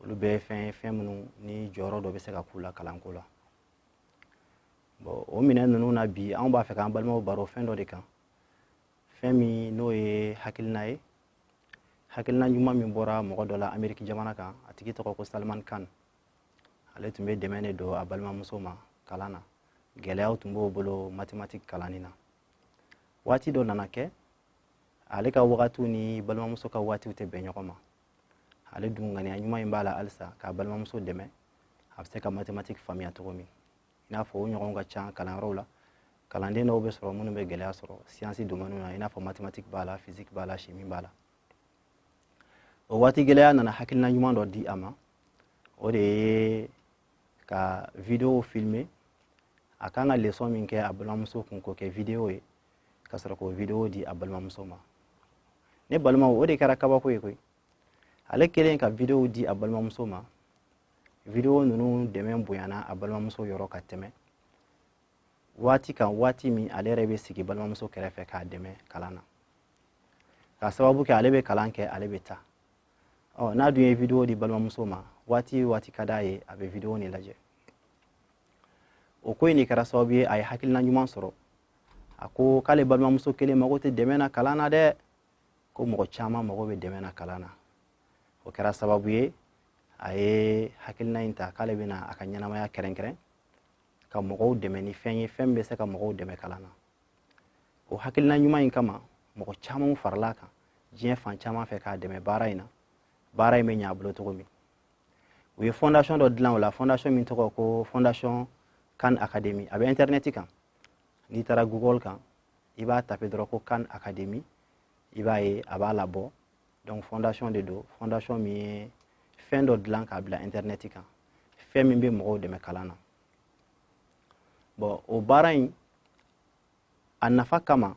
olu bɛɛ ye fɛn ye fɛn minnu ni jɔyɔrɔ dɔ bɛ se ka k'u la kalanko la bon o minɛn ninnu na bi anw b'a fɛ k'an balimaw baro fɛn dɔ de kan fɛn min n'o ye hakilina ye hakilina ɲuman min bɔra mɔgɔ dɔ la ameriki jamana kan a tigi tɔgɔ ko salman khan ale tun bɛ dɛmɛ de don a balimamuso ma kalan na gɛlɛyaw tun b'o bolo matimatiki kalanni na waati dɔ nana kɛ ale ka wagatiw ni balimamuso ka waatiw tɛ bɛn ɲɔgɔn ma ale dun ŋaniya ɲuman in b'a la halisa k'a balimamuso dɛmɛ a bɛ se ka mathématique faamuya cogo min i n'a fɔ o ɲɔgɔnw ka ca kalanyɔrɔw la kalanden dɔw bɛ sɔrɔ minnu bɛ gɛlɛya sɔrɔ siyansi domɛniw na i n'a fɔ mathématique b'a la physique b'a la chimie b'a la o waati gɛlɛya nana hakilina ɲuman dɔ di a ma o de ye ka video filmer a kan ka leçon min kɛ a balimamuso kun k'o kɛ video ye ka sɔrɔ k'o video di a balimamuso ma ne balimaw o de kɛra kabako ye koyi ale kɛlen ka videow di a balimamuso ma video ninnu dɛmɛ bonyana a balimamuso yɔrɔ ka tɛmɛ waati kan waati min ale yɛrɛ bɛ sigi balimamuso kɛrɛfɛ k'a dɛmɛ kalan na k'a sababu kɛ ale bɛ kalan kɛ ale bɛ taa ɔ n'a dun ye video di balimamuso ma waati waati ka d'a ye a bɛ video nin lajɛ o ko in de kɛra sababu ye a ye hakilina ɲuman sɔrɔ a ko k'ale balimamuso kelen mago tɛ dɛmɛ na kalan na dɛ ko mɔgɔ caman mago bɛ dɛmɛ na kalan na o kɛra sababu ye a ye hakilina in ta k'ale bɛna a ka ɲɛnamaya kɛrɛnkɛrɛn ka mɔgɔw dɛmɛ ni fɛn ye fɛn bɛ se ka mɔgɔw dɛmɛ kalan na o hakilina ɲuman in kama mɔgɔ camanw farala a kan diɲɛ fan caman fɛ k'a dɛmɛ baara in na baara in bɛ ɲɛ a bolo cogo min u ye fondation dɔ dilan o la fondation min tɔgɔ ko fondation khan academy a bɛ internet kan n'i taara google kan i b'a tape dɔrɔn ko khan academy i b'a ye a b'a labɔ donc fondation de don fondation min ye fɛn dɔ dilan k'a bila internet kan fɛn min bɛ mɔgɔw dɛmɛ kalan na bon o baara in a nafa kama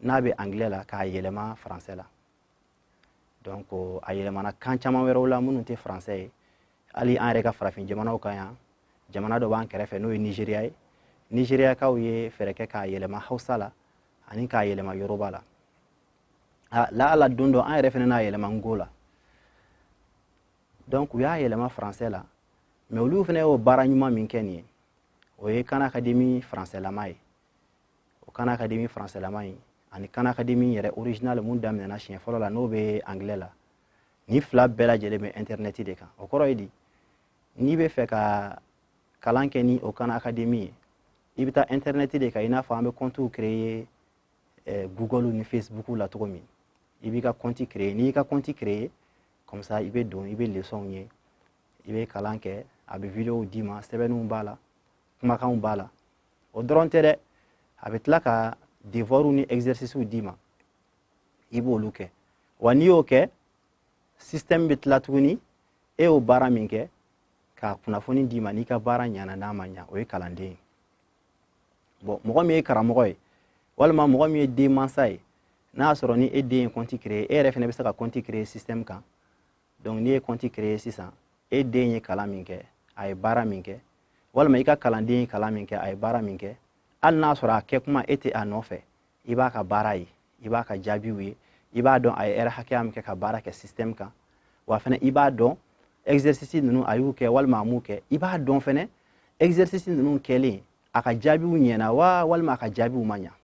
n'a bɛ angilɛ la k'a yɛlɛma faransɛ la donc a yɛlɛmana kan caman wɛrɛw la minnu tɛ faransɛ ye hali an yɛrɛ ka farafin jamanaw kan yan jamana dɔ b'an kɛrɛfɛ n'o ye nizeriya ye nizeriyakaw ye fɛɛrɛ kɛ k'a yɛlɛma hausa la ani k'a yɛlɛma yoroba la laala don dɔ an yɛrɛ fana n'a yɛlɛma nko la donc u y'a yɛlɛma faransɛ la mɛ olu fana y'o baara ɲuman min kɛ nin ye o ye khan academy faransɛlama ye o khan academy faransilama ye ani khan academy yɛrɛ original mun daminɛna siɲɛ fɔlɔ la n'o bɛ anglais la nin fila bɛɛ lajɛlen bɛ internet de kan o kɔrɔ ye di n'i bɛ fɛ ka kalan kɛ ni o khan academy ye i bɛ taa internet de kan i n'a fɔ an bɛ compte créer eh, google ni facebook la cogo min i b'i ka compte créer n'i y'i ka compte créer comme ça i bɛ don i bɛ leçonw ye i bɛ kalan kɛ a bɛ videow d'i ma sɛbɛnniw b'a la kumakanw b'a la o dɔrɔn tɛ dɛ a bɛ tila ka devoirw ni exercicew d'i ma i b'olu kɛ wa n'i y'o kɛ système bɛ tila tuguni e y'o baara min kɛ k'a kunnafoni d'i ma n'i ka baara ɲana n'a ma ɲa o ye kalanden ye bɔn mɔgɔ min ye karamɔgɔ ye walima mɔgɔ min ye denmansa ye n'a y'a sɔrɔ ni e den ye kɔnti créer e yɛrɛ fana bɛ se ka kɔnti créer système kan donc n'i ye kɔnti créer sisan e den ye kalan min kɛ a ye baara min kɛ walima i ka kalanden ye kalan min kɛ a ye baara min kɛ hali n'a sɔrɔ a kɛ kuma e tɛ a nɔfɛ i b'a ka baara ye i b'a ka jaabiw ye i b'a dɔn a ye ɛrɛ hakɛya min kɛ ka baara kɛ système kan wa fana i b'a dɔn exercice ninnu a y'u kɛ walima a m'u kɛ i b'a dɔn fana exercice ninnu kɛlen a ka jaabiw ɲɛna wa walima a ka jaabiw ma ɲa